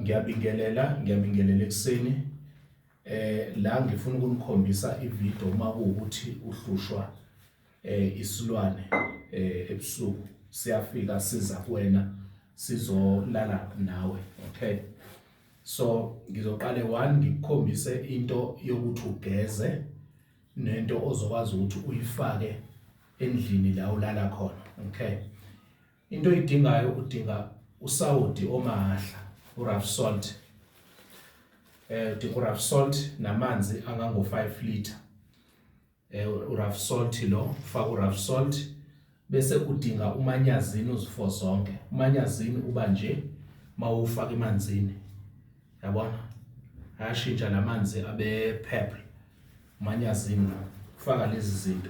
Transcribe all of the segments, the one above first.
ngiyabingelela ngiyabingelela ekuseni eh la ngifuna ukunikhombisa ivideo uma kuwukuthi uhlushwa eh isilwane eh ebusuku siyafika siza kuwena sizolala nawe okay so ngizoqale one ngikukhombise into yokuthi ugeze nento ozokwazi ukuthi uyifake endlini la ulala khona okay into oyidingayo udinga usawoti omahla urough salt eh udinga urough salt namanzi angango 5 liter eh urough salt lo ufaka urough salt bese udinga umanyazini uzifo zonke umanyazini uba nje mawufaka emanzini yabona ayashintsha lamanzi abe purple umanyazini ufaka lezi zinto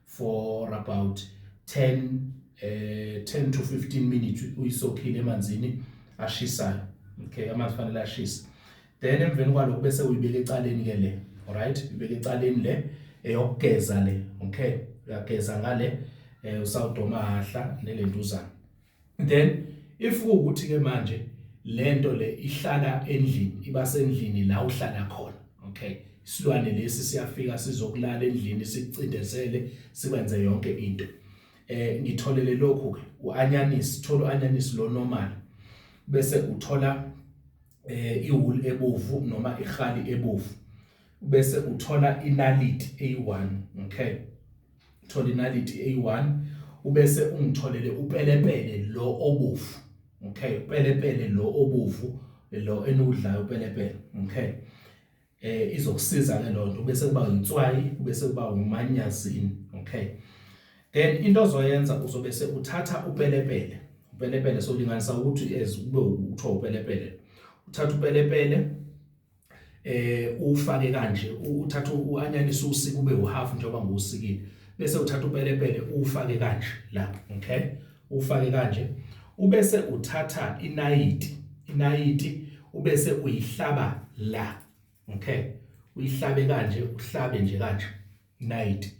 for about 10 eh 10 to 15 minutes uyisokhile emanzini ashisayo okay amanzi fanele ashisa then emveni kwalokho bese uyibeka ecaleni ke le alright ubeka ecaleni le eyokugeza le okay uyageza ngale eh usawudoma hahla nelentuzana then if ukuthi ke manje lento le ihlala endlini iba sendlini la uhlala khona okay isilwane lesi siyafika sizokulala endlini sikucindezele sikwenze yonke into eh ngitholele lokhu ke uanyanisi thola uanyanisi lo normal bese uthola eh iwool ebovu noma ihali ebovu ubese uthola inaliti eyi-1 okay thola inaliti eyi-1 ubese ungitholele upelepele lo obovu okay upelepele lo obovu lo eniwudlayo upelepele okay eh izokusiza ke lonto bese kuba inswayi bese kuba umanyazini okay then into ozoyenza uzobe se uthatha upelepele upelepele solinganisa ukuthi as kube uthiwa upelepele uthatha upelepele eh ufake kanje uthatha uanyanisa usika ube uhalf njengoba ngusikile bese uthatha upelepele ufake kanje la okay ufake kanje ubese uthatha inayiti inayiti ubese uyihlaba la okay uyihlabe kanje uhlabe nje kanje inayiti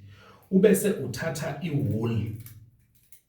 ubese uthatha iwool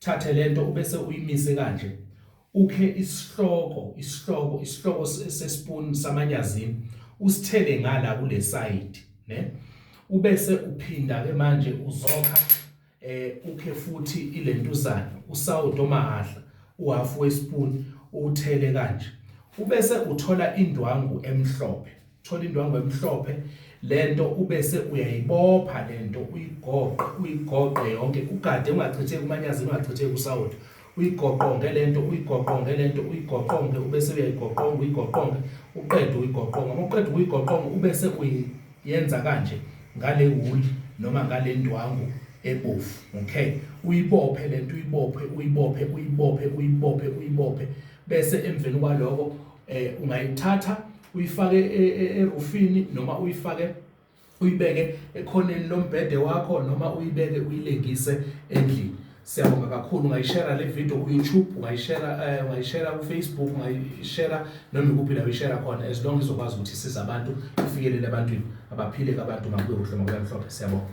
thathe lento ubese uyimise kanje ukhe isihloko isihloko isihloko sespoon samanyazini usithele ngala kule side ne ubese uphinda ke manje uzokha eh ukhe futhi ilentuzana usawudo mahahla uhalf wespoon uthele kanje ubese uthola indwangu emhlophe thola indwangu emhlophe lento ubese uyayibopha lento uyigoqe uyigoqe yonke ugade ungachitheki umanyazi ungachitheki usawoti uyigoqonge lento uyigoqonge lento uyigoqonge ubese uyayigoqonga uyigoqonge uqede uyigoqonga uma uqeda ukuyigoqonga ubese uyenza kanje ngale wuli noma ngale ndwangu ebovu okay uyibophe lento uyibophe uyibophe uyibophe uyibophe uyibophe bese emveni kwaloko eh ungayithatha uyifake e, e, erufini noma uyifake uyibeke ekhoneni lombhede wakho noma uyibeke uyilengise endlini siyabonga kakhulu ungayishera le video ku-youtube ungayishera eh, ungayishera ku-facebook ungayishera noma ikuphi la uyishera khona as long izokwazi ukuthi isiza abantu ifikelele ebantwini abaphile kabantu makube kuhle makube mhlophe siyabonga